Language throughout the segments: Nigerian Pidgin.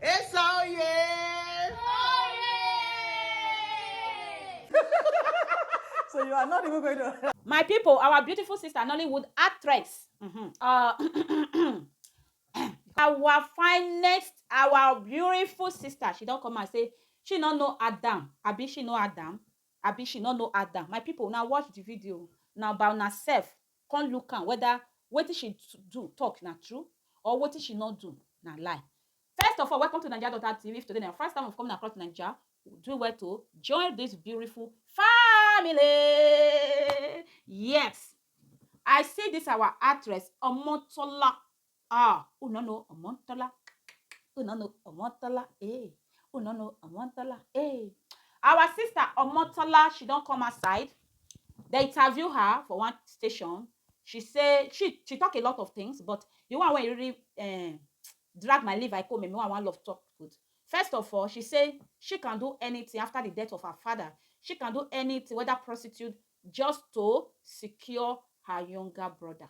Esa oye! So you are not even going to. My people, our beautiful sister Nollywood actress. Mhm. Uh, our finest, our beautiful sister. She don't come and say she no know Adam. Abi she know Adam. Abi she no know Adam. My people, now watch the video. Now about herself. Come look am whether wetin she do talk na true or wetin she no do na lie. First of all welcome to naija daughter TV if today na your first time of coming across naija do well to join this beautiful family yes I see this our actress Omotola Ah, oh no no, I want to la. Oh no no, I want to la. Eh, oh no no, I want to la. Eh. Our sister Omotola, she don't come aside. They interview her for one station. She say she she talk a lot of things, but the one when you really uh, drag my liver, I come and me one love talk good. First of all, she say she can do anything after the death of her father. She can do anything, whether prostitute, just to secure her younger brother.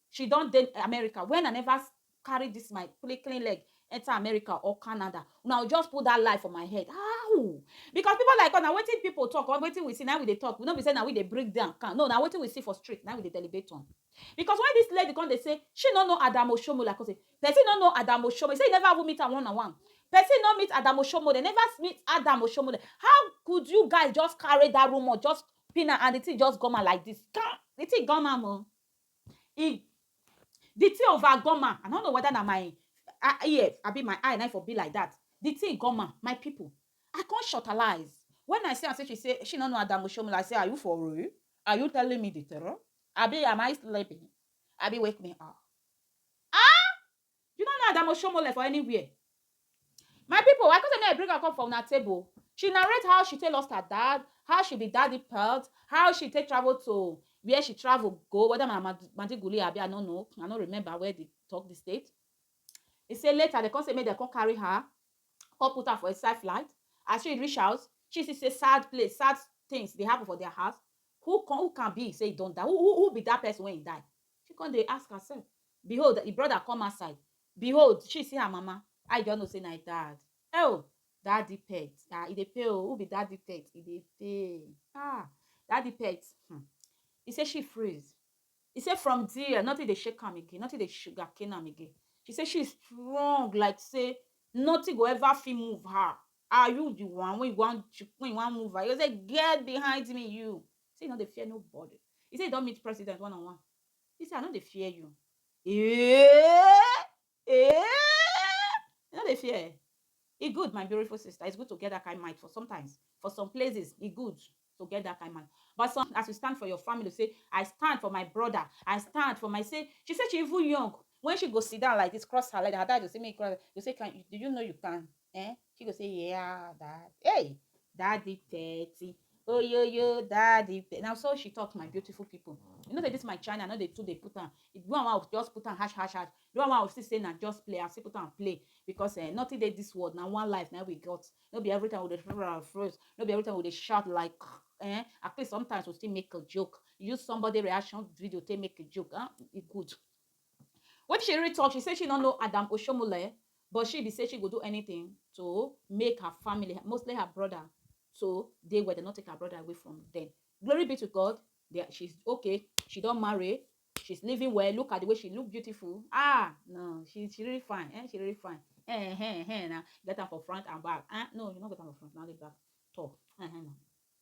She don dey America when I never carry this my clean clean leg enter America or Canada. Una go just put that lie for my head. How? Because people like us, na wetin people talk or wetin we see na we dey talk. We no be say na we dey break down account. No, na wetin we see for street na we dey deliberate on. Because when this lady come dey say she no know Adamu Oshomo like us, person no know Adamu Oshomo. He say he never even meet am one on one. Person no meet Adamu Oshomo. They never meet Adamu Oshomo. How could you guys just carry that rumor, just pin am and the thing just gone am like this? Kai! The thing gone am o. E the thing over goma, I no know whether na my ear abi my eye na im for be like that, the thing goma my people, I come shortalize when I see am say she say she no know Adamu Oshiomole, I say are you for real? Are you telling me the truth? Abi am I sleeping? Abi wake me up. Ahh! You no know Adamo Shomole for anywhere. My people, I come say make I bring am come for una table. She narrate how she take lost her dad, how she be daddy pelt, how she take travel to where she travel go, whether na Mad- Madiguli abi I no know, I no remember where they talk the state. He say later they come say make they come carry her, come put her for inside flight. As she reach house, she see say sad place, sad things dey happen for their house. Who can, who can be say he don die? Who, who, who be that person when he die? She come dey ask herself. Behold, the brother come outside. Behold, she see her mama. How you just know say na im dad? Oh, daddy pet. Ah, e dey pay oh. Who be daddy pet? E dey pay. Ah, daddy pet. Hmm. He say she freeze. He say from there, nothing dey shake am again. Nothing dey sugar cane am again. She say she strong like say nothing go ever fit move her. Are you the one when you want when you want move her? You say get behind me, you. Say you no dey fear nobody. He say he don meet president one on one. He say I no dey fear you. Eh! Eh! You no dey fear eh? E good my beautiful sister, it's good to get that kind mind for sometimes. For some places, e good to get that kind mind. But some, as you stand for your family, say, I stand for my brother, I stand for my, say, she said she even young. When she go sit down like this, cross her leg, her dad will say, make you cross, you say, can, do you know you can Eh? She go say, yeah, dad. Hey, daddy thirty. Oh yo yo, daddy. 30. Now so she talks, my beautiful people. You know that this my channel, I know they too they put on. If you want to just put on hash hash hash. You want to still say now just play. I still put on play because uh, nothing they this world now one life now we got. No be every time we dey froze. No be every time we dey shout like. Eh? At least sometimes we still make a joke. Use somebody reaction video to make a joke. Huh? It good. Wetin she really talk, she say she no know Adam Oshomole but she be say she go do anything to make her family, mostly her brother to dey well, dem no take her brother away from dem. Glory be to God, they, she's okay, she don marry, she's living well, look at the way she look beautiful, ah, no, she, she really fine, eh, she really fine, eh, eh, eh, eh, na, get am for front and back, ah, no, you no get am for front, na only back, talk, eh, eh, na.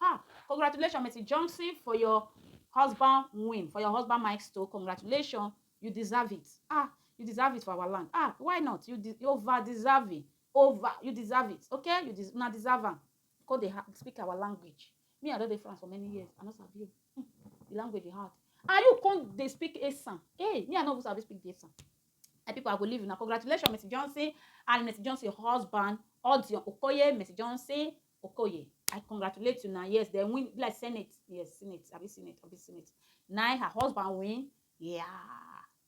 Ha! Congratulations Mercy Johnson for your husband win, for your husband milestone. Congratulations. You deserve it. Ah, you deserve it for our land. Ah, why not? You, de you over deserve it. Over. You deserve it. Okay? You des una deserve am. Because they speak our language. Me, I don dey France for many years. I no sabi you. Hmm. The language dey hard. And you come dey speak Esan. Hey, me, I no even sabi speak the Esan. And people, I go leave una. Congratulations, Mercy Johnson and Mercy Johnson husband, Odion Okoye, Mercy Johnson. Okoye, I congratulate you na yes dem win be like senate yes senate abi senate abi senate na her husband win yeah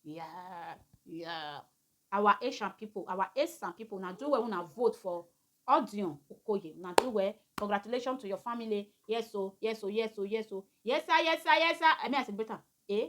yeah yeah our Asian people our Asian people na do well una vote for Odion Okoye na do well congratulations to your family yes o yes o yes o yes o yes sir yes sir yes sir I mean I celebrate am eh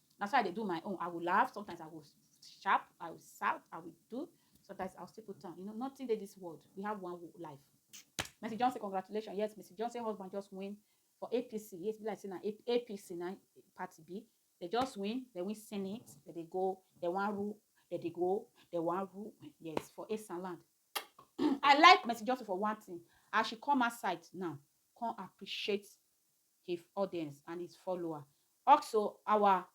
Na so I dey do my own. I will laugh, sometimes I will sharp, I will shout, I will do. Sometimes I'll still put on. You know, nothing dey this world. We have one life. Mercy Johnson, congratulations. Yes, Mercy Johnson husband just win for APC. Yes, be like saying APC na party B. They just win. They win Senate. They, they go. They want rule. They, they go. They want rule. Yes, for Eastern land. I like Mercy Johnson for one thing. As she come outside now, come appreciate his audience and his follower. Also, our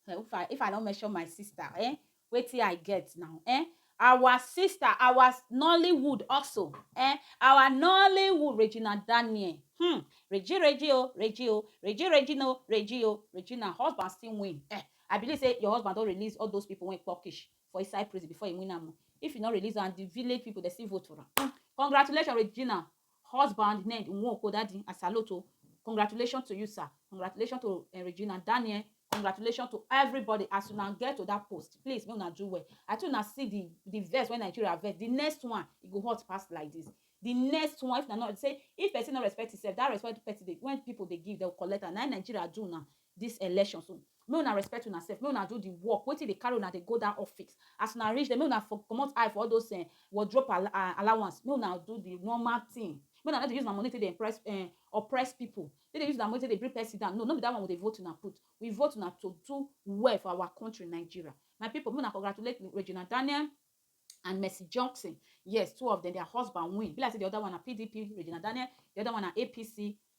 if I if I don't mention my sister, eh? Wetin I get now, eh? Our sister, our Nollywood also, eh? Our Nollywood Regina Daniel. Hmm. Regi Regi o, Regi o, Regi Regi no, Regi o, Regina husband still win. Eh. I believe say your husband don release all those people wey Turkish for inside prison before he win am. o. If you no release am, the village people dey still vote for am. Hmm. Congratulations, Regina. Husband Ned Nwoko Daddy I salute o congratulations to you sir congratulations to eh, Regina Daniel congratulations to everybody as una get to that post please make una do well I tell una see the the verse when Nigeria verse the next one e go hot pass like this the next one if na not say if person no respect himself that respect person dey when people dey give dem collect am na im Nigeria do now dis election so make una respect una sef make una do the work wetin dey carry una dey go dat office as una reach there make una for comot eye for all those um wardrope al um allowance make una do the normal thing make una no dey use una money take dey impress um oppress people take dey use una money take dey bring person down no no be dat one we dey vote una put we vote una to do well for our country Nigeria my people make una congratulate me Regina Daniel and Mercy Johnson yes two of them their husband win e be like say the other one na PDP Regina Daniel the other one na APC